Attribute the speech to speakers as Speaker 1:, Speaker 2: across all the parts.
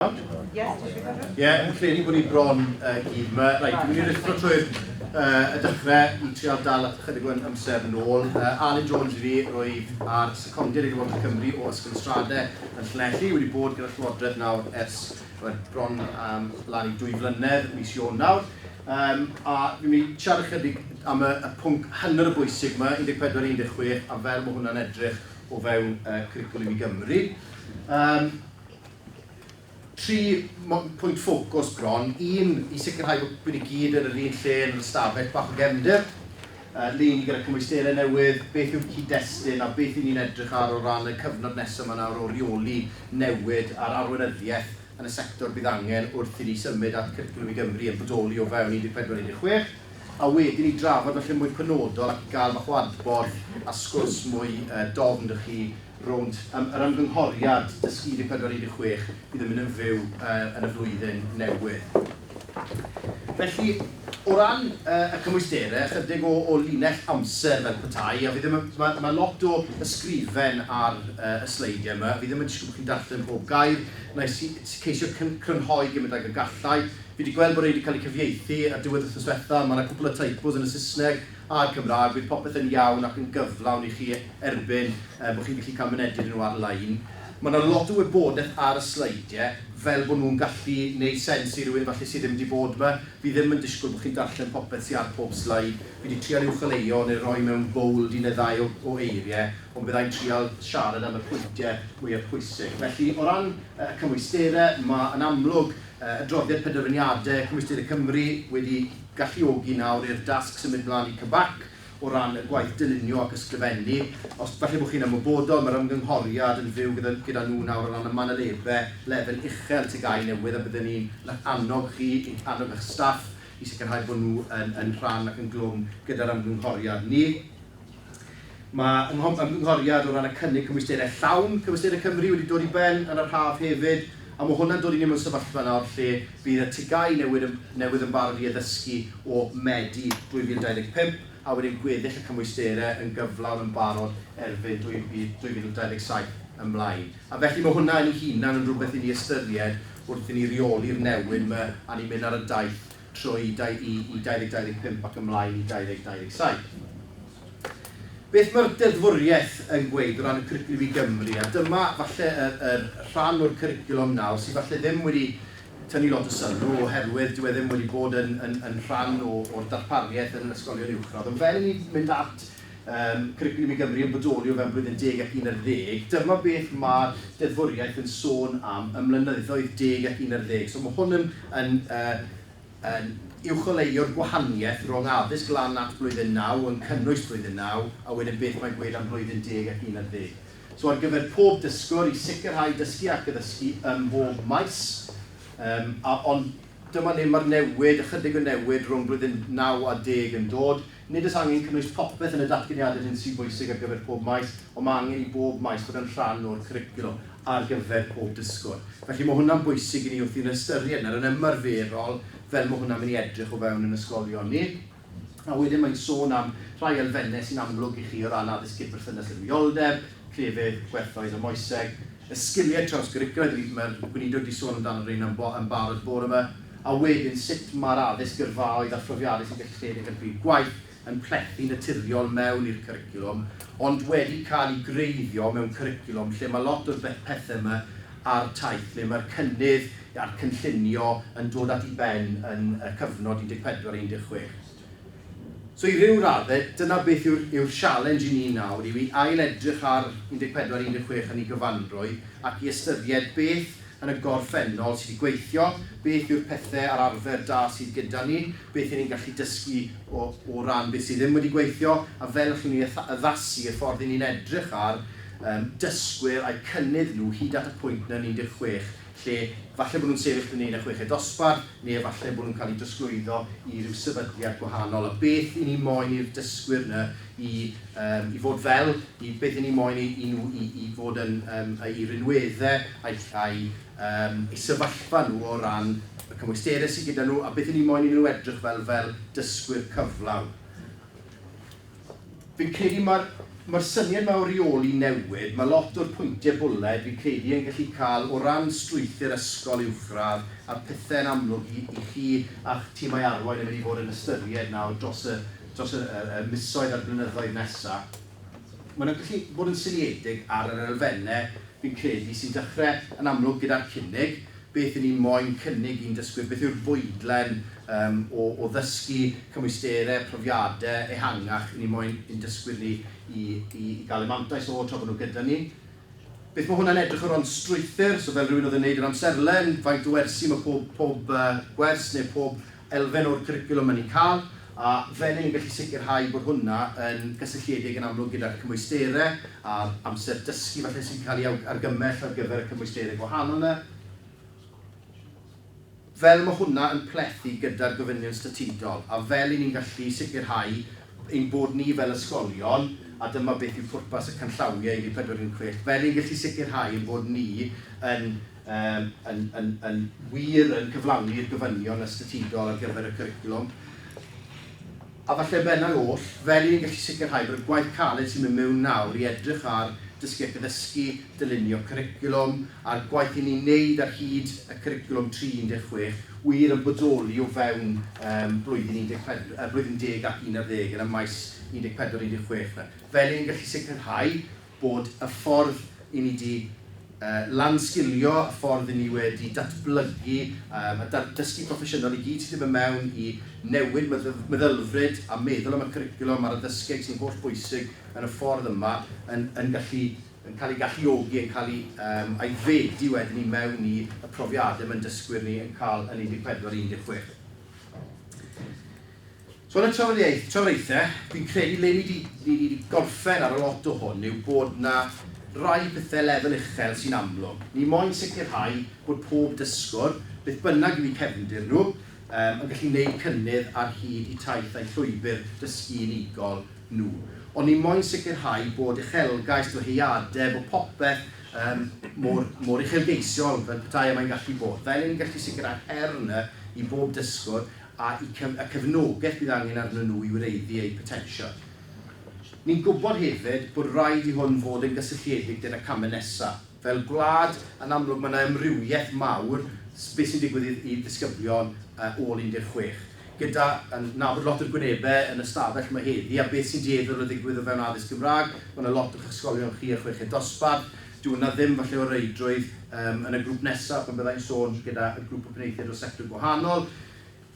Speaker 1: Ie, yeah, yn credu bod ni bron uh, gyd yma. Right, dwi'n mynd i rithro trwy'r uh, y dechrau i trial dal at ychydig o'n amser yn ôl. Uh, Alun Jones i fi roedd ar secondiad i Lywodraeth Cymru o Ysgol Strade yn Llanelli. Wedi bod gyda Llywodraeth nawr ers well, bron um, lan i dwy flynedd, mis Ion nawr. Um, a dwi'n mynd i siarad ychydig am y, y pwnc hanner y bwysig yma, 14-16, a fel mae hwnna'n edrych o fewn uh, Cwricwlwm i Gymru. Um, Tri pwynt ffocws bron, un, i sicrhau bod ni gyd yn yr un lle yn yr ystafell bach o gefndir, leini gyda cymwysterau newydd, beth yw'r cyd-destun a beth 'y ni'n edrych ar o ran y cyfnod nesaf 'ma nawr o reoli newid a'r arweinyddiaeth yn y sector bydd angen wrth i ni symud at Cwricwlwm i Gymru yn bodoli o fewn 14 16 a wedyn i drafod falle mwy penodol ac i gael bach o adborth a sgwrs mwy dofn 'da chi rownd yym yr ymgynghoriad Dysgu 14 i 16 fydd yn mynd yn fyw yy yn y flwyddyn newydd. Felly, o ran yy y cymwysterau, ychydig o o linell amser fel petai, a fi ddim yn, ma' ma' lot o ysgrifen ar yy y sleidiau yma, fi ddim yn disgwyl bod chi'n darllen pob gair, wna i si- si- ceisio cyn- crynhoi gymint ag y galla i. Fi 'di gweld bod rhei 'di cael eu cyfieithu ar diwedd wythnos ddiwetha', ma' 'na cwpl o typos yn y Saesneg, a'r Cymraeg, bydd popeth yn iawn ac yn gyflawn i chi erbyn bod chi'n gallu cael mynediad i nhw ar-lein. Mae 'na lot o wybodaeth ar y sleidiau, fel bod nhw'n gallu neud sens i rywun falle sydd ddim wedi bod 'ma. Fi ddim yn disgwyl bod chi'n darllen popeth sy ar pob sleid. Fi 'di trial uwcholeuo neu roi mewn bowld un neu ddau o o eiriau, ond bydda i'n trial siarad am y pwyntiau mwya pwysig. Felly, o ran y cymwysterau, ma' yn amlwg adroddiad penderfyniadau Cymwysterau Cymru wedi galluogi nawr i'r dasg symud mlaen i CBAC o ran y gwaith dylunio ac ysgrifennu. Os falle bod chi'n ymwybodol, mae'r ymgynghoriad yn fyw gyda gyda nhw nawr o ran y manylebau lefel uchel TGAU newydd a bydden ni'n eich annog chi, eich annog eich staff i sicrhau bod nhw yn yn rhan ac yn glwm gyda'r ymgynghoriad. Ni. Mae ymgynghoriad o ran y cynnig cymwysterau llawn Cyfystyr Cymru wedi dod i ben yn yr haf hefyd, a mae hwnna'n dod i ni mewn sefyllfa nawr lle bydd y TGAU newydd newydd yn barod i addysgu o Medi 2025, a wedyn gweddill y cymwysterau yn gyflawn yn barod erbyn 2027 ymlaen. A felly mae hwnna yn ei hunan yn rhywbeth i ni ystyried wrth i ni reoli'r newyn 'ma a ni'n mynd ar y daith trwy i 2025 ac ymlaen i 2027. Beth mae'r deddfwriaeth yn gweud o ran y cwricwlwm i Gymru, a dyma falle yr yr rhan o'r cwricwlwm nawr sydd falle ddim wedi tynnu lot o sylw oherwydd dyw e ddim wedi bod yn yn yn rhan o o'r darpariaeth yn yr ysgolion uwchradd ond fel i ni mynd at Mae Cwricwlwm i Gymru yn bodoli o fewn blwyddyn deg ac un ar ddeg. Dyma beth mae'r deddfwriaeth yn sôn am ym mlynyddoedd deg ac un ar ddeg. So mae hwn yn yn yn uwcholeuo'r gwahaniaeth rhwng addysg lan at blwyddyn naw, yn cynnwys blwyddyn naw, a wedyn beth mae'n gweud am blwyddyn deg ac un ar ddeg. So ar gyfer pob dysgwr i sicrhau dysgu ac addysgu ym mhob maes, um, a, ond dyma le mae'r newid, ychydig o newid rhwng blwyddyn naw a deg yn dod, Nid oes angen cynnwys popeth yn y datganiadau hyn sy'n bwysig ar gyfer pob maes, ond mae angen i bob maes fod yn rhan o'r cwricwlwm ar gyfer pob dysgwr. Felly, mae hwnna'n bwysig i ni wrth i ni ystyried nawr yn ymarferol fel mae hwnna'n mynd i edrych o fewn yn ysgolion ni. A wedyn mae'n sôn am rhai elfennau sy'n amlwg i chi o ran addysg cydberthynas a rwyoldeb, clefyd, gwerthoedd a moeseg, y sgiliau trawsgwricwlaidd rydym yn Gweinidog wedi sôn amdano rheina yn yn barod bore yma, a wedyn sut mae'r addysg gyrfaoedd a phrofiadau sy'n gallu rhedeg ar bryd gwaith yn plethu'n naturiol mewn i'r cwricwlwm, ond wedi cael eu gwreiddio mewn cwricwlwm lle mae lot o'r pethau yma a'r taith, lle mae'r cynnydd a'r cynllunio yn dod at ei ben yn y cyfnod 14 a 16. So i ryw raddau, dyna beth yw'r yw'r sialens i ni nawr, yw i ail-edrych ar 14, 16 yn ei gyfanrwy, ac i ystyried beth yn y gorffennol sydd wedi gweithio, beth yw'r pethau a'r arfer da sydd gyda ni, beth y'n ni'n gallu dysgu o o ran beth sydd ddim wedi gweithio, a fel y'ch chi'n ei addasu, y ffordd y'n ni'n edrych ar yym dysgwyr a'u cynnydd nhw hyd at y pwynt 'na yn 16, lle falle bod nhw'n sefyll fyny yn y chweched dosbarth, neu efallai bod nhw'n cael eu trosglwyddo i ryw sefydliad gwahanol, a beth y'n ni moyn i'r dysgwyr yna i yym i fod fel, i beth y'n ni moyn i i nhw i i fod yn yym eu rhinwedde ai ai yym eu sefyllfa nhw o ran y cymwysterau sy gyda nhw, a beth y'n ni moyn i nhw edrych fel fel dysgwyr cyflawn. Fi'n credu mae'r mae'r syniad yma o reoli newid, mae lot o'r pwyntiau bwled fi'n credu yn gallu cael o ran strwythur ysgol uwchradd a'r pethau yn amlwg i i chi a'ch timau arwain yn mynd i fod yn ystyried nawr dros y dros y y y misoedd a'r blynyddoedd nesaf. Mae nhw'n gallu bod yn seiliedig ar yr elfennau fi'n credu sy'n dechrau yn amlwg gyda'r cynnig beth y'n ni'n moyn cynnig i'n dysgwyr, beth yw'r fwydlen yym o o ddysgu, cymwysterau, profiadau ehangach y'n ni'n moyn i'n dysgwyr ni i i i gael eu mantais o tra bod nhw gyda ni. Beth mae hwnna'n edrych o ran strwythur, so fel rhywun oedd yn wneud yr amserlen, faint o wersi mae pob pob gwers neu pob elfen o'r cwricwlwm yn eu cael, a fel y'n ni'n gallu sicrhau bod hwnna yn gysylltiedig yn amlwg gyda'r cymwysterau a'r amser dysgu falle sy'n cael ei argymell ar gyfer y cymwysterau gwahanol 'na, fel mae hwnna yn plethu gyda'r gofynion statudol, a fel y'n ni'n gallu sicrhau ein bod ni fel ysgolion, a dyma beth yw pwrpas y canllawiau i ni 416, fel y'n ni'n gallu sicrhau ein bod ni yn Yym, yn, yn, yn wir yn cyflawni'r gofynion ystetudol ar gyfer y cwricwlwm. A falle bennau oll, fel i ni'n gallu sicrhau bod y gwaith caled sy'n mynd mewn nawr i edrych ar dysgu ac addysgu, dylunio cwricwlwm, a'r gwaith i ni'n wneud ar hyd y cwricwlwm tri 16 wir yn bodoli o fewn yym blwyddyn 14, yy, blwyddyn deg ac un ar ddeg yn y maes 14, 16 'na. Fel i ni'n gallu sicrhau bod y ffordd i ni 'di lan-sgilio, y ffordd i ni wedi datblygu a dysgu proffesiynol i gyd sydd ddim yn mewn i newid meddylfryd a meddwl am y cwricwlwm a'r addysgeg sy'n holl bwysig yn y ffordd yma yn yn gallu yn cael ei galluogi, yn cael ei aeddfedu wedyn i mewn i y profiadau mae'n dysgwyr ni yn cael yn 14 a 16. So yn y trafodaeth, trafodaethe, fi'n credu le ni 'di, ni 'di gorffen ar y lot o hwn yw bod 'na rai pethe lefel uchel sy'n amlwg. Ni moyn sicrhau bod pob dysgwr, beth bynnag yw 'u cefndir nhw, yym, yn gallu neud cynnydd ar hyd 'u taith a'u llwybr dysgu unigol nhw. Ond ni moyn sicrhau bod uchelgais, dyheadeb, bod popeth, yym, mor, mor uchelgeisiol fel petai e mae'n gallu bod. Fel 'yn ni'n gallu sicrhau'r her 'ny i bob dysgwr a'u cefnogaeth bydd angen arnyn nhw i wreiddi eu potensial. Ni'n gwybod hefyd bod raid i hwn fod yn gysylltiedig gyda camau nesaf. Fel gwlad, yn amlwg, mae yna amrywiaeth mawr beth sy'n digwydd i ddisgyblion ôl 16, gyda nabod lot o'r gwynebau yn y stafell yma heddi a beth sy'n dueddol o ddigwydd o fewn addysg Gymraeg. Mae yna lot o'ch ysgolion chi a chweched dosbarth. Dyw 'na ddim falle o reidrwydd yym yn y grŵp nesa pan bydda i'n sôn gyda y grŵp o benaethiaid o sector gwahanol.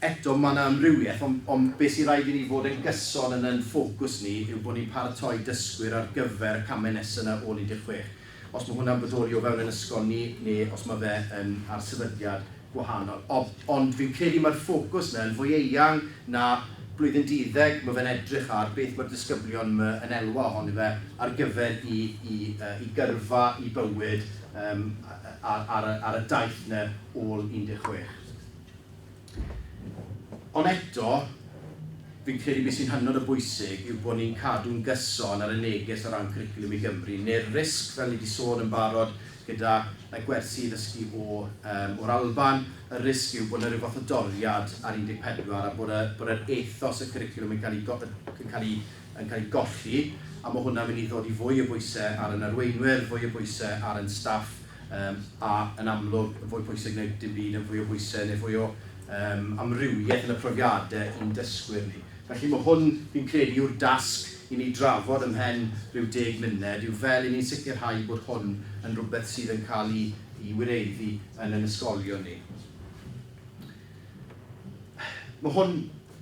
Speaker 1: Eto ma' 'na amrywieth on- ond be' sy raid i ni fod yn gyson yn yn ffocws ni yw bo' ni'n paratoi dysgwyr ar gyfer y came nesa 'na ôl 16. Os ma' hwnna'n bodoli o fewn 'yn ysgol ni ne' os ma' fe yn ar sefydliad gwahanol. Ond fi'n credu mae'r ffocws 'na yn fwy eang na blwyddyn duddeg, mae fe'n edrych ar beth mae'r disgyblion 'ma yn elwa ohoni fe ar gyfer i gyrfa, i bywyd ar y daith 'na ôl 16. Ond eto, fi'n credu be sy'n hynod o bwysig yw bod ni'n cadw'n gyson ar y neges o ran Cwricwlwm i Gymru, neu'r risg, fel ni 'di sôn yn barod, Gyda gwersi i ddysgu o'r Alban, y risg yw bod 'na ryw fath o doriad ar 14 a bod yr ethos y cwricwlwm yn cael ei golli, a mae hwnna'n mynd i ddodi fwy o bwysau ar yn arweinwyr, fwy o bwysau ar yn staff a, yn amlwg, fwy pwysig na dim byd, fwy o bwysau neu fwy o amrywiaeth yn y profiadau i'n dysgwyr ni. Felly mae hwn, fi'n credu, yw'r dasg i ni drafod ymhen rhyw deg munud, yw fel i ni'n sicrhau bod hwn yn rhywbeth sydd yn cael ei wireddu yn ein ysgolion ni. Mae hwn,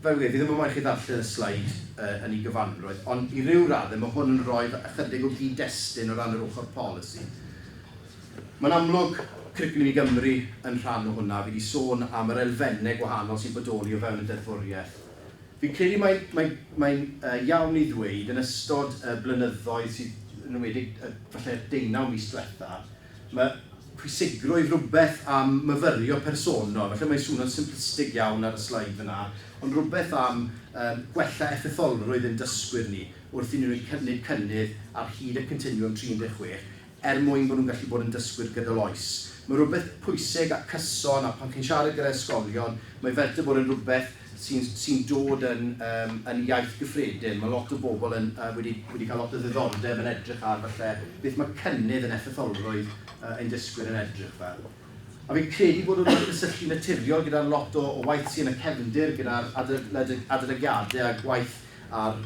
Speaker 1: fel fi wedi, fi ddim yn moyn chi ddarllen y sleid yn ei gyfanrwydd, ond i ryw raddau mae hwn yn rhoi ychydig o gyd-destun o ran yr ochr polisi. Mae'n amlwg, Cwricwlwm i Gymru yn rhan o hwnna, fi wedi sôn am yr elfennau gwahanol sy'n bodoli o fewn y deddfwriaeth. Fi'n credu mai mai mae'n yy iawn i ddweud yn ystod y blynyddoedd sydd, yn enwedig y falle'r deunaw mis diwetha, ma' pwysigrwydd rwbeth am myfyrio personol, falle mae'n swno'n simplistig iawn ar y sleid fan'na, ond rwbeth am yym gwella effetholrwydd ein dysgwyr ni wrth i ni wneud cynnydd ar hyd y continwwm 36, er mwyn bod nhw'n gallu bod yn dysgwyr gydol oes. Mae rhywbeth pwysig a cyson, a pan chi'n siarad gyda ysgolion, mae fel dy bod yn rhywbeth sy'n sy'n dod yn yym yn iaith gyffredin. Mae lot o bobl yn yy wedi wedi cael lot o ddiddordeb yn edrych ar falle beth mae cynnydd yn effetholrwydd yy ein dysgwyr yn edrych fel. A fi'n credu bod hwnna'n cysylltu naturiol gyda lot o o waith sy yn y cefndir gyda'r adolyg- adolygiadau a gwaith ar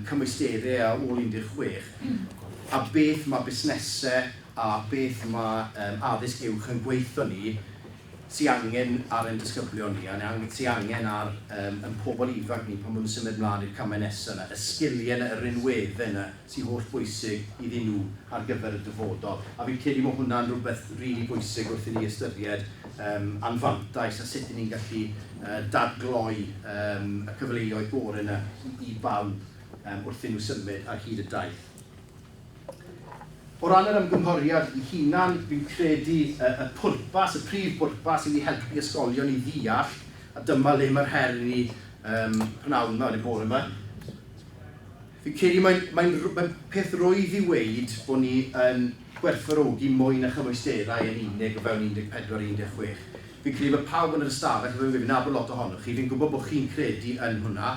Speaker 1: cymwysterau a ôl 16, a beth mae busnesau a beth mae addysg uwch yn gweithio ni, sy angen ar ein disgyblion ni, a sy angen ar ein pobl ifanc ni pan maen nhw'n symud mlaen i'r camau nesaf yna, y sgiliau yna, y rinweddau yna. sy holl bwysig iddyn nhw ar gyfer y dyfodol. A fi'n credu mae hwnna'n rhywbeth rili bwysig wrth i ni ystyried yym anfantais a sut 'yn ni'n gallu yy dadgloi yym y cyfleoedd gore 'na i i bawb yym wrth i nhw symud ar hyd y daith. O ran yr ymgynghoriad ei hunan, fi'n credu y y pwrpas, y prif bwrpas yw i helpu ysgolion i ddeall, a dyma le mae'r her i ni yym pnawn 'ma, neu bore 'ma, Fi'n credu mae'n mae'n mae'n peth rwydd i weud bod ni yn gwerthfawrogi mwy na chymwysterau yn unig o fewn 14 i 16. Fi'n credu bod pawb yn yr ystafell, fel fi'n gweud, fi'n nabod lot ohonoch chi, fi'n gwybod bod chi'n credu yn hwnna,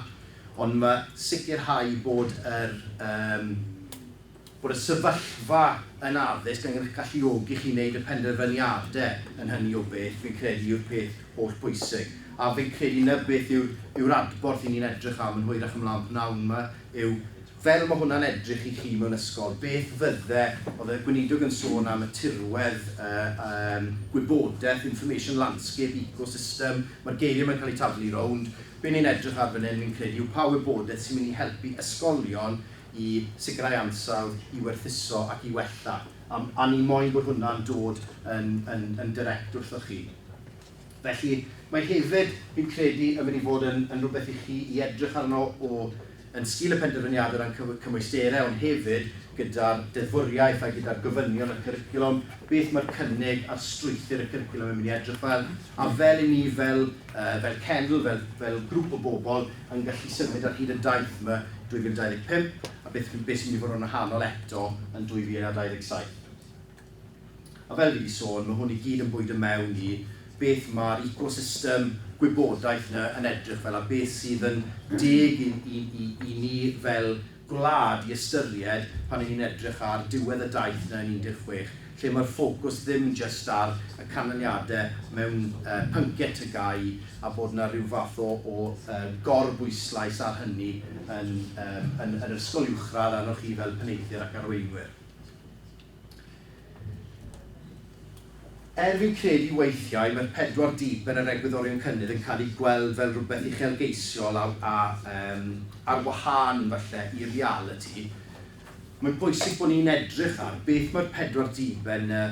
Speaker 1: ond mae sicrhau bod yr yym bod y sefyllfa yn addysg yn eich galluogi chi i wneud y penderfyniadau yn hynny o beth, fi'n credu, yw'r peth holl bwysig. A fi'n credu 'na beth yw'r yw'r adborth 'y ni'n edrych am yn hwyrach ymlaen p'nawn 'ma yw, fel ma' hwnna'n edrych i chi mewn ysgol, beth fydde, oedd y Gweinidog yn sôn am y tirwedd, y yym gwybodaeth, information landscape, ecosystem, ma'r geiriau 'ma'n cael eu taflu rownd, be' ni'n edrych ar fan hyn, fi'n credu, yw pa wybodaeth sy'n mynd i helpu ysgolion i sicrhau ansawdd, i werthuso ac i wella, a a ni moyn bod hwnna'n dod yn yn yn direct wrthoch chi. Felly, mae hefyd, fi'n credu, yn mynd i fod yn yn rhywbeth i chi i edrych arno o yn sgil y penderfyniad o ran cyf- cymwysterau ond hefyd gyda'r deddfwriaeth a gyda'r gofynion y cwricwlwm, beth mae'r cynnig ar strwythur y cwricwlwm yn mynd i edrych fel, a fel i ni fel fel cenedl, fel, fel grŵp o bobl, yn gallu symud ar hyd y daith yma 2025, a beth fydd, beth sy'n mynd i fod yn wahanol eto yn 2027. A fel fi wedi sôn, mae hwn i gyd yn bwydo mewn i beth mae'r ecosystem gwybodaeth yna yn edrych fel, a beth sydd yn deg i, i, i, i ni fel gwlad i ystyried pan 'y ni'n edrych ar diwedd y daith 'na yn 16, lle mae'r ffocws ddim jyst ar y canlyniadau mewn pynciau TGAU a bod 'na ryw fath o o gor-bwyslais ar hynny yn yn yr ysgol uwchradd arnoch chi fel penaethiaid ac arweinwyr. Er fi'n credu weithiau mae'r pedwar dip yn yr egwyddorion cynnydd yn cael eu gweld fel rhywbeth uchelgeisiol a a yym ar wahân falle i realiti, mae'n bwysig bod ni'n edrych ar beth mae'r pedwar dip yn yy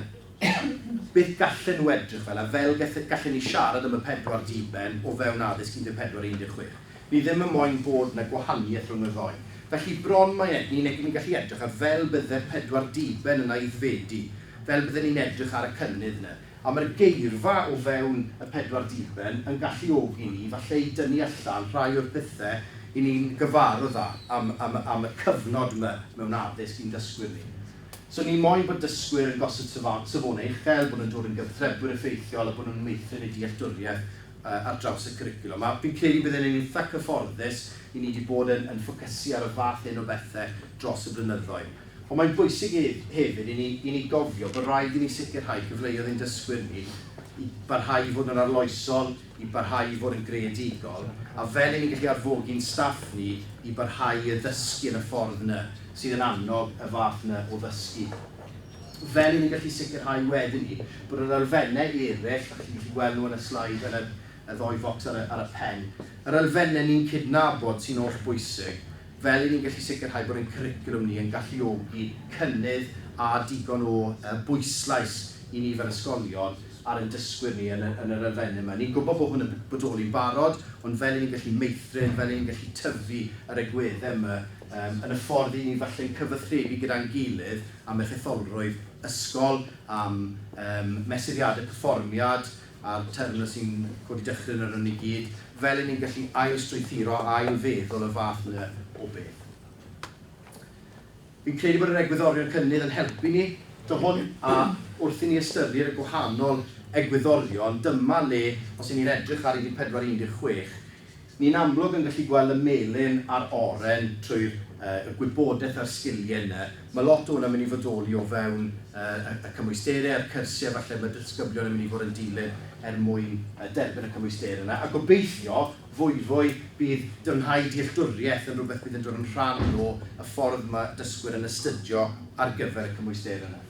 Speaker 1: beth gallen nhw edrych fel a fel gallen ni siarad am y pedwar diben o fewn addysg 14 16. Ni ddim yn moyn bod 'na gwahaniaeth rhwng y ddou. Felly bron mae egni negi ni'n gallu edrych a fel bydde'r pedwar diben yn aeddfedu, fel bydden ni'n edrych ar y cynnydd 'na. A mae'r geirfa o fewn y pedwar diben yn galluogi ni falle i dynnu allan rhai o'r pethe i ni'n gyfarwdd â am am am y cyfnod 'ma mewn addysg i'n dysgwyr ni. So ni moyn bod dysgwyr yn gosod safon- safone uchel, bod nhw'n dod yn gyfrtrebwyr effeithiol a bod nhw'n meithrin eu dealltwriaeth ar draws y cwricwlwm. A fi'n credu bydde'n yn eitha cyfforddus i ni 'di bod yn yn ffocysu ar y fath hyn o bethe dros y blynyddoedd. Ond mae'n bwysig hef hefyd i ni i ni gofio bod raid i ni sicrhau cyfleodd i'n dysgwyr ni i barhau i fod yn arloesol, i barhau i fod yn greadigol, a fel i ni'n gallu arfogi'n staff ni i barhau i addysgu yn y ffordd 'na sydd yn annog y fath 'na o ddysgu. Fel i ni gallu sicrhau wedyn 'ny bod yr elfennau eraill, dach chi'n gallu gweld nhw yn y sleid yn yr y ddou focs ar y ar y pen, yr elfennau ni'n cydnabod sy'n oll bwysig, fel i ni'n gallu sicrhau bod ein cwricwlwm ni yn galluogi cynnydd a digon o yy bwyslais i ni fel ysgolion ar ein dysgwyr ni yn y yn yr elfennau 'ma. Ni'n gwybod bod hwn yn bodoli'n barod, ond fel i ni'n gallu meithrin, fel i ni'n gallu tyfu yr egwyddau 'ma yym yn y ffordd 'yn ni falle'n cyfathrebu gyda'n gilydd, am eich etholrwydd ysgol, am ehm mesuriadau perfformiad a'r terfynau sy'n codi dychryn arnon ni gyd, fel y'n ni'n gallu ail-strwythuro a ail-feddwl y fath yna o beth. Fi'n credu bod yr egwyddorion cynnydd yn helpu ni, to hwn, a wrth i ni ystyried y gwahanol egwyddorion, dyma le, os y'n ni'n edrych ar 14 16, Ni'n amlwg yn gallu gweld y melyn a'r oren trwy'r y gwybodaeth a'r sgiliau yna. Mae lot o hwnna'n mynd i fodoli o fewn y y cymwysterau a'r cyrsiau falle mae disgyblion yn mynd i fod yn dilyn er mwyn y derbyn y cymwysterau yna. A gobeithio, fwyfwy, bydd dyfnhau dealltwriaeth yn rhywbeth bydd yn dod yn rhan o y ffordd mae dysgwyr yn astudio ar gyfer y cymwysterau yna.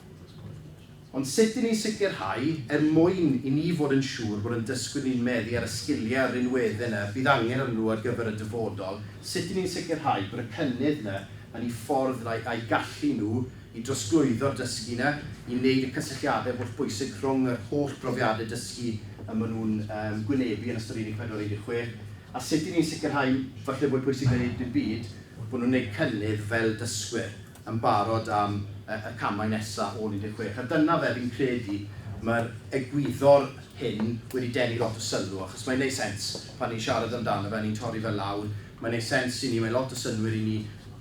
Speaker 1: Ond sut i ni'n sicrhau, er mwyn i ni fod yn siŵr bod ein dysgwyr ni'n meddu ar y sgiliau a'r rinweddau yna bydd angen arnyn nhw ar gyfer y dyfodol, sut i ni'n sicrhau bod y cynnydd yna yn eu ffordd yna a'u gallu nhw i drosglwyddo'r dysgu yna, i wneud y cysylltiadau hollbwysig rhwng yr holl brofiadau dysgu y maen nhw'n eu gwynebu yn ystod Unit 4 a 16, a sut i ni'n sicrhau, falle mwy pwysig na dim byd, bod nhw'n gwneud cynnydd fel dysgwyr. yn barod am y camau nesaf ôl 16 a dyna fe, fi'n credu mae'r egwyddor hyn wedi denu lot o sylw achos mae'n gwneud sens pan ni'n siarad amdano fe a ni'n torri fe lawr, mae'n gwneud sens i ni, mae lot o synnwyr i ni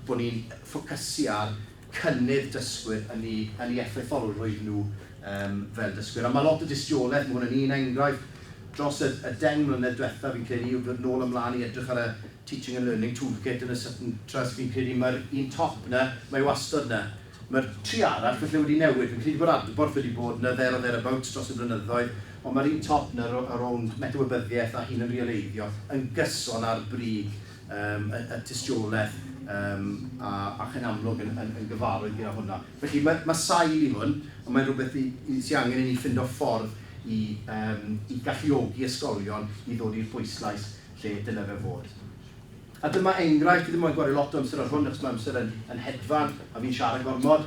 Speaker 1: bod ni'n ffocysu ar cynnydd dysgwyr yn eu yn eu effeitholrwydd nhw Yym, fel dysgwyr. A mae lot o dystiolaeth, mae hwn yn un enghraifft dros y, y deng mlynedd diwetha, fi'n credu, yw dod nôl ymlaen i edrych ar y Teaching and Learning Toolkit yn y Sutton Trust, fi'n credu mae'r un top na, mae wastod na. Mae'r tri arall falle wedi newid, fi'n credu bod adborth wedi bod na there or thereabouts dros y blynyddoedd, ond mae'r un top na o rownd metawybyddiaeth a hunanreoleiddio yn gyson ar brig y tystiolaeth ac yn amlwg yn gyfarwydd gyda hwnna. Felly mae sail i hwn, ond mae'n rhywbeth sydd angen i ni ffindo ffordd i galluogi ysgolion i ddod i'r bwyslais lle dyle fe fod. A dyma enghraifft, dwi ddim moyn gwario lot o amser ar hwn achos mae amser yn hedfan a fi'n siarad gormod.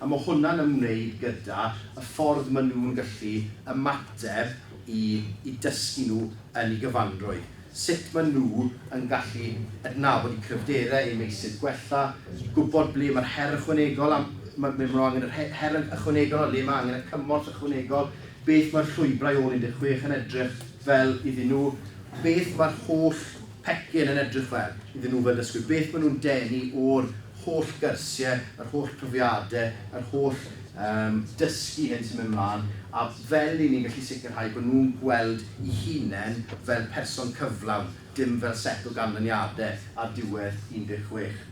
Speaker 1: A ma' hwnna'n ymwneud gyda y ffordd ma' nhw'n gallu ymateb i i dysgu nhw yn eu gyfanrwydd. Sut ma' nhw yn gallu adnabod eu cryfderau, eu meysydd gwella, i gwybod ble ma'r her ychwanegol am- ma- ble ma' nhw angen yr he- her yn ychwanegol a le ma' angen y cymorth ychwanegol, beth ma'r llwybrau ôl un deg chwech yn edrych fel iddyn nhw, beth ma'r holl pecyn yn edrych fel, iddyn nhw fel dysgwyr, beth maen nhw'n denu o'r holl gyrsiau, yr holl profiadau, yr holl um, dysgu hyn sy'n mynd mlaen, a fel i ni'n gallu sicrhau bod nhw'n gweld i hunain fel person cyflawn, dim fel set o ganlyniadau ar diwedd 16.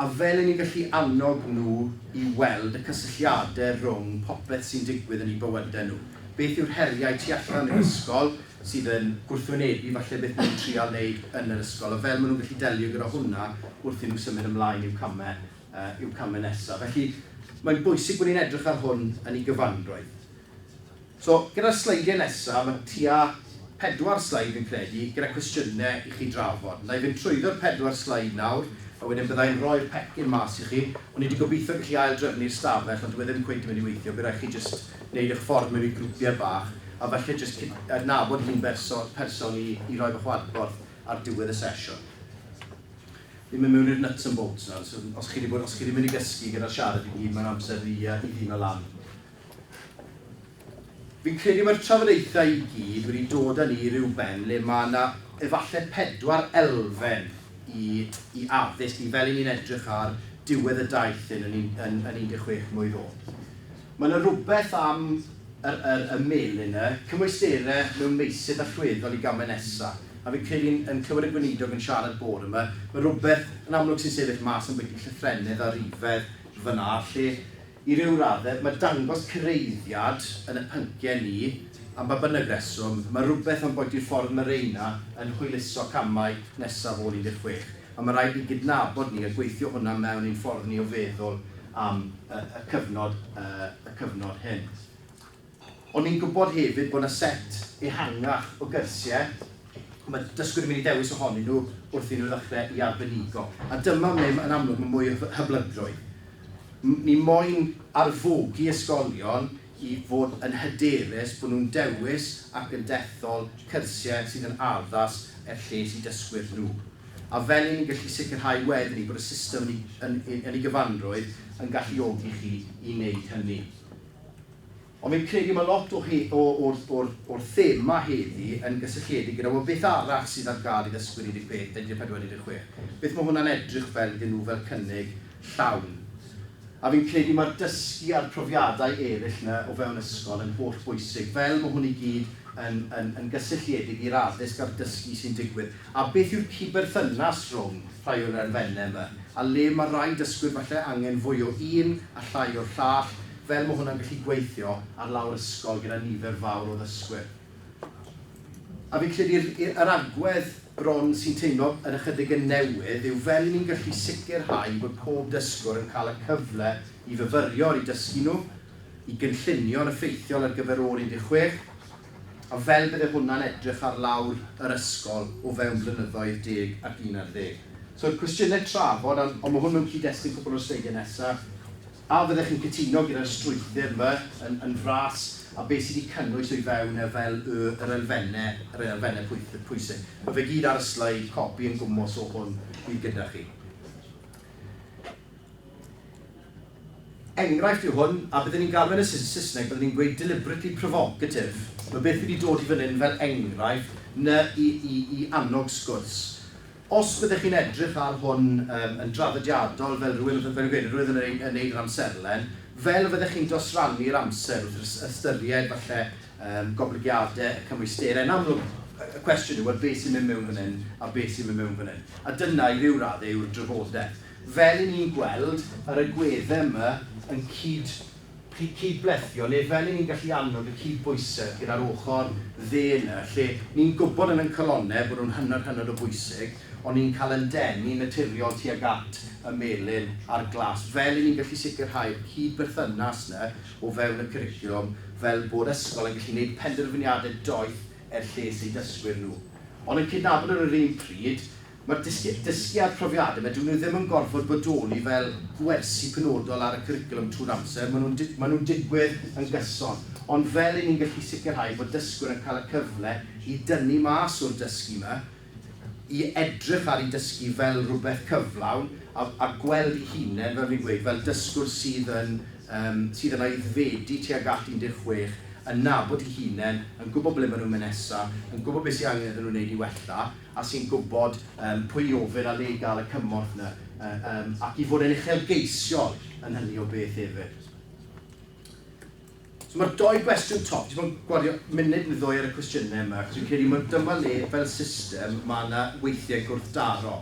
Speaker 1: A fel 'yn ni'n gallu annog nhw i weld y cysylltiadau rhwng popeth sy'n digwydd yn eu bywydau nhw. Beth yw'r heriau tu allan i'r ysgol sydd yn gwrthwynebu falle beth maen nhw'n trial wneud yn yr ysgol, a fel maen nhw'n gallu delio gyda hwnna wrth i nhw symud ymlaen i'w camau, i'w camau nesaf. Felly, mae'n bwysig bod ni'n edrych ar hwn yn ei gyfanrwydd. So, gyda'r sleidiau nesaf, mae tua pedwar sleid fi'n credu, gyda cwestiynau i chi drafod. Wna i fynd trwyddo'r pedwar sleid nawr, a wedyn bydda i'n rhoi'r pecyn mas i chi. O'n i 'di gobeithio gallu ail-drefnu'r stafell, ond dyw e ddim cweit yn mynd i weithio, bydd rhaid chi jyst wneud eich ffordd mewn i grwpiau bach, a falle jyst cydnabod yr un berson person i i roi fach o adborth ar diwedd y sesiwn. Fi'n mynd mewn i'r nuts and bolts nawr, so os chi 'di bod, os chi 'di mynd i gysgu gyda'r siarad i gyd, mae'n amser i i ddino lan. Fi'n credu mae'r trafodaethau i gyd wedi dod â ni i ryw ben le mae yna efallai pedwar elfen i i addysg ni fel 'yn ni'n edrych ar diwedd y daith hyn yn yn yn 16 mlwydd ôl. Mae yna rywbeth am yr yr y melin 'na, cymwysterau mewn meysydd allweddol i gamau nesa', a fi'n credu yn yn clywed y Gweinidog yn siarad bore 'ma, mae rywbeth yn amlwg sy'n sefyll mas ambwyty llythrennedd a rhifedd fan'na lle I ryw raddau, mae dangos cyraeddiad yn y pynciau ni, am ba bynnag reswm, mae rhywbeth am boenti'r ffordd mae Reina yn hwyluso camau nesaf ôl 16, a mae rhaid ni gydnabod ni a gweithio hwnna mewn i'n ffordd ni o feddwl am y cyfnod hyn. Ond ni'n gwybod hefyd bod 'na set ehangach o gyrsiau y mae dysgwyr yn mynd i ddewis ohonyn nhw wrth i nhw ddechrau i arbenigo. A dyma ble, yn amlwg, mae mwy o hyblygrwydd. Ni moyn arfogi ysgolion i fod yn hyderus bod nhw'n dewis ac yn dethol cyrsiau sydd yn addas er lles i dysgwyr nhw. A fel 'yn ni'n gallu sicrhau wedyn 'ny bod y system yn ei gyfanrwydd yn galluogi chi i wneud hynny. Ond fi'n credu mae lot o he- o, o'r, o'r, o'r thema heddi yn gysylltiedig gyda, wel, beth arall sydd ar gael i ddysgwyr 13, 14, 16? Beth mae hwnna'n edrych fel iddyn nhw fel cynnig llawn? A fi'n credu mae'r dysgu a'r profiadau eraill 'na o fewn ysgol yn holl bwysig, fel mae hwn i gyd yn, yn, yn gysylltiedig i'r addysg a'r dysgu sy'n digwydd. A beth yw'r cyd-berthynas rhwng rhai o'r erfenne 'ma, a le mae rhai dysgwyr falle angen fwy o un a llai o'r llall, fel mae hwnna'n gallu gweithio ar lawr ysgol gyda nifer fawr o ddysgwyr? A fi'n credu yr y yr agwedd bron sy'n teimlo yn ychydig yn newydd yw fel 'yn ni'n gallu sicrhau bod pob dysgwr yn cael y cyfle i fyfyrio ar eu dysgu nhw, i gynllunio'n effeithiol ar gyfer o'r 16, A fel bydde hwnna'n edrych ar lawr yr ysgol o fewn blynyddoedd deg ac un ar ddeg. So'r cwestiyne trafod, ond ond ma' hwn mewn cyd-destun cwpwl o'r sleidiau nesa. A fyddech chi'n cytuno gyda'r strwythur 'ma yn yn fras, a be' sy' 'di cynnwys o'i fewn e fel y yr elfenne yr elfenne pwyth- yy pwysig. Ma' fe gyd ar y sleid, copi yn gwmws o hwn fydd gyda chi. Enghraifft yw hwn, a bydden i'n galw e'n y Saesneg bydden i'n gweud deliberately provocative. Mae beth fi 'di dod i fan hyn fel enghraifft na i i i annog sgwrs. Os byddech chi'n edrych ar hwn yym yn draddodiadol fel rhywun fel fi'n gweud rhywun yn yn wneud yr amserlen, fel y fyddech chi'n dosrannu'r amser wrth ys- ystyried falle yym goblygiadau y cymwysterau. Yn amlwg y y cwestiwn yw wel beth sy'n mynd mewn fan hyn a beth sy'n mynd mewn fan hyn. A dyna i ryw raddau yw'r drafodaeth. Fel i ni'n gweld yr agweddau yma yn cyd, cydblethio, neu fel i ni'n gallu annog y cydbwysedd gyda'r ochr dde yna, lle ni'n gwybod yn ein calonnau bod nhw'n hynod, hynod o bwysig, ond ni'n cael ein denu yn naturiol tuag at y melin a'r glas. Fel i ni'n gallu sicrhau'r cyd-berthynas yna o fewn y cwricwlwm, fel bod ysgol yn gallu gwneud penderfyniadau doeth er lles eu dysgwyr nhw, ond yn cydnabod ar yr un pryd, Mae'r dysgwyr, dysgu a'u profiadau, maen nhw ddim yn gorfod bodoli fel gwersi penodol ar y cwricwlwm trwy'r amser, maen nhw'n maen nhw'n digwydd yn gyson. Ond fel 'yn ni'n gallu sicrhau bod dysgwyr yn cael y cyfle i dynnu mas o'r dysgu 'ma, i edrych ar eu dysgu fel rhywbeth cyflawn a a gweld eu hunain, fel fi'n gweud, fel dysgwr sydd yn yym sydd yn aeddfedu tuag at 16, yn nabod eu hunain, yn gwybod ble maen nhw'n mynd nesaf, yn gwybod beth sydd angen iddyn nhw wneud i wella. a sy'n gwybod yym pwy i ofyn a le i gael y cymorth 'na yym ac i fod yn uchelgeisiol yn hynny o beth hefyd. So mae'r dou gwestiwn top, dwi 'di bod yn gwario munud neu ddwy ar y cwestiynau yma achos fi'n credu mai dyma le fel system mae 'na weithiau gwrthdaro.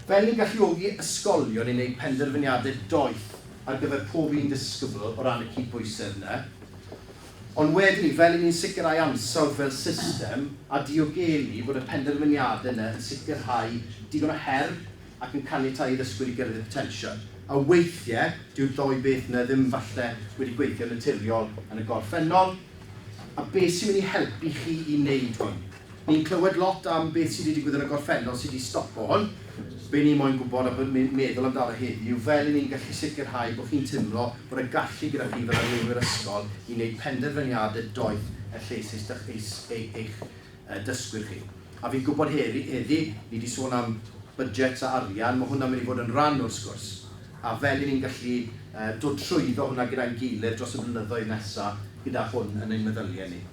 Speaker 1: Fel yn galluogi ysgolion i wneud penderfyniadau doeth ar gyfer pob un disgybl o ran y cydbwysedd yna, ond wedyn 'ny fel yn ni'n sicrhau ansawdd fel system a diogelu bod y penderfyniadau yna yn sicrhau digon o her ac yn caniatáu i ddysgwyr i gyrraedd eu potensial. A weithiau, dyw'r ddou beth yna ddim falle wedi gweithio'n naturiol yn y gorffennol. A beth sy'n mynd i helpu chi i wneud hwn? Ni'n clywed lot am beth sy 'di digwydd yn y gorffennol sy 'di stopo hwn. Be ni moyn gwybod a be ni'n meddwl amdano heddi yw fel 'yn ni'n gallu sicrhau bo chi'n timlo bod y gallu gyda chi fel arweinwyr ysgol i neud penderfyniade doeth er lles eis dych eis ei eich yy dysgwyr chi. A fi'n gwybod heddi heddi ni 'di sôn am budgets a arian, ma hwnna'n mynd i fod yn ran o'r sgwrs. A fel 'yn ni'n gallu yy dod trwyddo hwnna gyda'n gilydd dros y blynyddoedd nesa gyda hwn yn ein meddylie ni.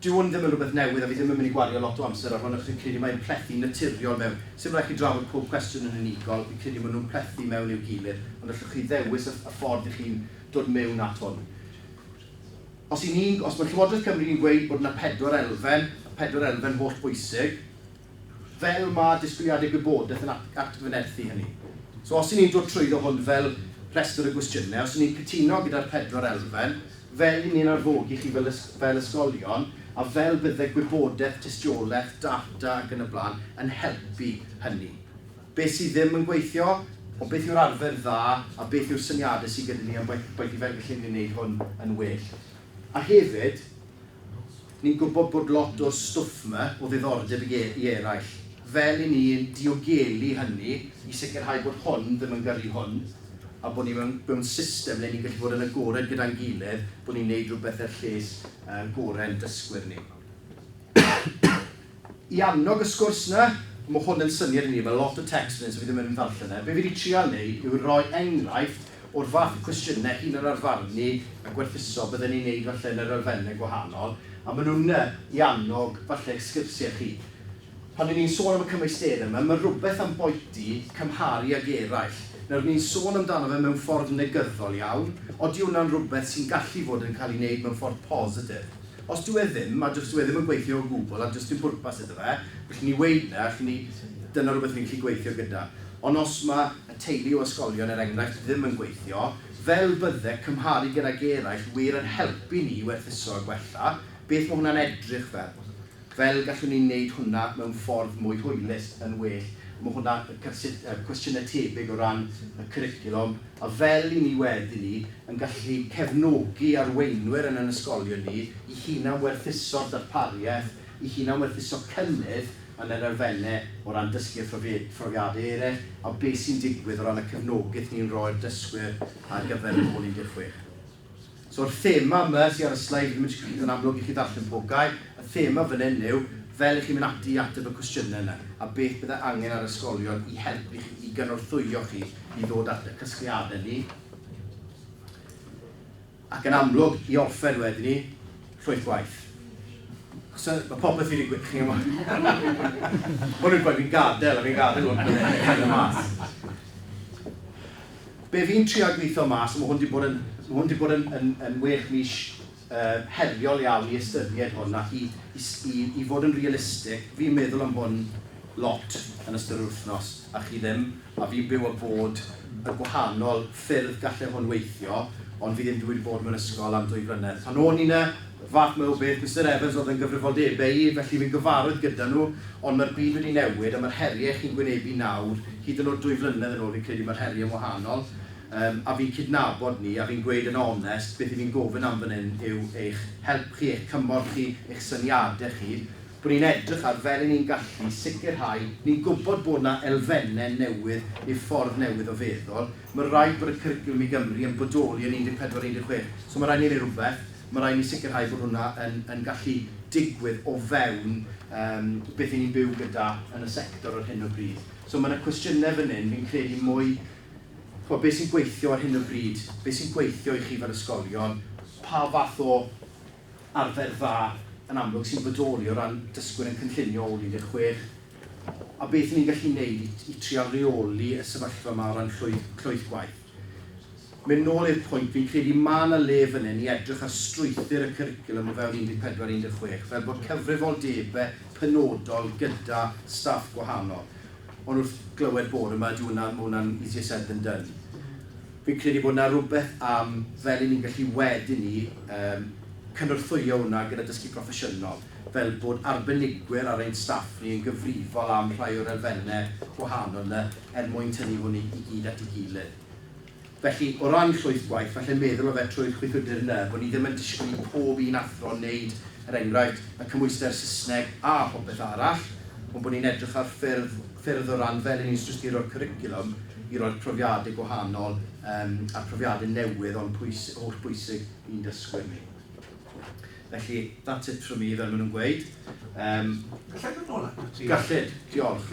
Speaker 1: Dyw hwn ddim yn rhywbeth newydd a fi ddim yn mynd i gwario lot o amser ar hwn achos fi'n credu mae'n plethu naturiol mewn. Sim rhaid chi drafod pob cwestiwn yn unigol, fi'n credu maen nhw'n plethu mewn i'w gilydd, ond allwch chi ddewis y y ffordd i chi'n dod mewn at hwn. Os y'n ni'n, os mae Llywodraeth Cymru'n gweud bod 'na pedwar elfen, y pedwar elfen holl bwysig, fel mae disgwyliadau gwybodaeth yn atgyfnerthu hynny. So os 'y ni'n dod trwyddo hwn fel rhestr o gwestiynau, os 'y ni'n cytuno gyda'r pedwar elfen, fel 'y ni'n arfogi chi fel fel ysgolion, a fel bydde gwybodaeth, tystiolaeth, data ac yn y blaen yn helpu hynny. Beth sydd ddim yn gweithio, o beth yw'r arfer dda, a beth yw'r syniadau sydd gyda ni am beth beth i fel gallu ni wneud hwn yn well. A hefyd, Ni'n gwybod bod lot o'r stwff 'ma o ddiddordeb i eraill. Fel i ni yn diogelu hynny i sicrhau bod hwn ddim yn gyrru hwn, a bod ni mewn system le ni'n gallu bod yn agored gyda'n gilydd bod ni'n neud rhywbeth er lles gorau'n dysgwyr ni. I annog y sgwrs 'na, ma' hwn yn syniad i ni, ma' lot o text yn hyn so fi ddim yn mynd i ddarllen e. Be' fi 'di trial neud yw roi enghraifft o'r fath o cwestiyne hunanarfarnu a gwerthuso bydden ni'n neud falle yn yr elfenne gwahanol, a ma' nhw'n 'na i annog falle eich sgyrsie chi. Pan 'yn ni'n sôn am y cymwysterau 'ma, ma' rwbeth am boeti cymharu ag eraill. Nawr, ni'n sôn amdano fe mewn ffordd negyddol iawn, odi wnna'n rwbeth sy'n gallu fod yn cael ei wneud mewn ffordd positif? Os dyw e ddim, a does dyw e ddim yn gweithio o gwbl a does dim pwrpas iddo fe, felly ni weud 'na, felly ni, dyna rhywbeth ni'n gallu gweithio gyda. Ond os mae y teulu o ysgolion, er enghraifft, ddim yn gweithio, fel bydde cymharu gydag eraill wir yn helpu ni i werthuso a gwella, beth mae hwnna'n edrych fel? Fel gallwn ni wneud hwnna mewn ffordd mwy hwylus, yn well? Mae hwnna, cwestiynau tebyg o ran y cwricwlwm, A fel i ni wedyn ni yn gallu cefnogi arweinwyr yn yn ysgolion ni i hunanwerthuso'r darpariaeth, i hunanwerthuso cynnydd yn yr elfennau o ran dysgu a phrofiadau eraill, a beth sy'n digwydd o ran y cefnogaeth ni'n rhoi'r dysgwyr ar gyfer yr ôl 16. So'r thema yma sy ar y sleid, ddim yn siŵr pryd yn amlwg i chi ddarllen pob gair, y thema fan hyn yw fel i chi mynd ati i ateb y cwestiynau yna, a beth bydde angen ar ysgolion i helpu chi, i gynorthwyo chi i ddod at y casgliadau ni, ac yn amlwg i orffen wedyn ni, llwyth gwaith. So, mae popeth wedi gweud, chi'n gwybod. Hwn yw'r gwaith fi'n gadael, a fi'n gadael hwn, cael y mas. be fi'n trial gweithio mas, a mae hwn wedi bod yn, mae hwn wedi bod yn, yn, yn wech mis uh, heriol iawn i ystyried hwn ac i, i, i, i fod yn realistig, fi'n meddwl am hwn lot yn ystod yr wythnos a chi ddim, a fi'n byw a bod y gwahanol ffyrdd gallai hwn weithio, ond fi ddim wedi bod mewn ysgol am ddwy flynedd. Pan o'n i'n y Fath mawr beth, Mister Evans oedd yn gyfrifoldebau i, felly fi'n gyfarwydd gyda nhw, ond mae'r byd wedi newid a mae'r heriau chi'n gwynebu nawr, hyd yn oed dwy flynedd yn ôl fi'n credu mae'r heriau'n wahanol, yym, a fi'n cydnabod 'ny, a fi'n gweud yn onest, beth 'y fi'n gofyn am fan hyn yw eich help chi, eich cymorth chi, eich syniadau chi, bod ni'n edrych ar fel 'yn ni'n gallu sicrhau, ni'n gwybod bod 'na elfennau newydd i'r ffordd newydd o feddwl, Mae'n rhaid bod y cwricwlwm i Gymru yn bodoli yn 14, 16. So mae'n rhaid i ni wneud rhywbeth, mae'n rhaid i ni sicrhau bod hwnna yn yn gallu digwydd o fewn yym beth 'y ni'n byw gyda yn y sector ar hyn o bryd. So mae 'na cwestiynau fan hyn, fi'n credu mwy, chimod, beth sy'n gweithio ar hyn o bryd, beth sy'n gweithio i chi fel ysgolion, pa fath o arfer dda yn amlwg sy'n bodoli o ran dysgwyr yn cynllunio ôl 16 a beth ry'n ni'n gallu gwneud i i trial reoli y sefyllfa yma o ran llwyth llwyth gwaith. Mynd nôl i'r pwynt, fi'n credu ma' 'na le fan hyn i edrych ar strwythur y cwricwlwm o fewn 14 16 fel bod cyfrifoldebe penodol gyda staff gwahanol ond wrth glywed bore 'ma dyw hwnna, ma' hwnna'n easier said than done. Fi'n credu bod 'na rywbeth am fel 'yn ni'n gallu wedyn 'ny yym cynorthwyo hwnna gyda dysgu proffesiynol, fel bod arbenigwyr ar ein staff ni yn gyfrifol am rhai o'r elfenne gwahanol 'na er mwyn tynnu hwn i gyd at ei gilydd. Felly, o ran llwyth gwaith, falle meddwl o fe trwy'r chwyddwydr 'na, bo' ni ddim yn disgwyl i pob un athro wneud, er enghraifft, y cymhwyster Saesneg a phopeth arall, ond bod ni'n edrych ar ffyrdd ffyrdd o ran fel 'yn ni'n strusturo'r cwricwlwm, i roi'r profiadau gwahanol um, a'r profiadau newydd o'n pwys, holl bwysig i'n dysgwyr ni. Felly, that's it from me, fel maen nhw'n
Speaker 2: gweud. Um,
Speaker 1: Gallai
Speaker 2: ddod nôl
Speaker 1: at ti?
Speaker 2: Gallid,
Speaker 1: diolch.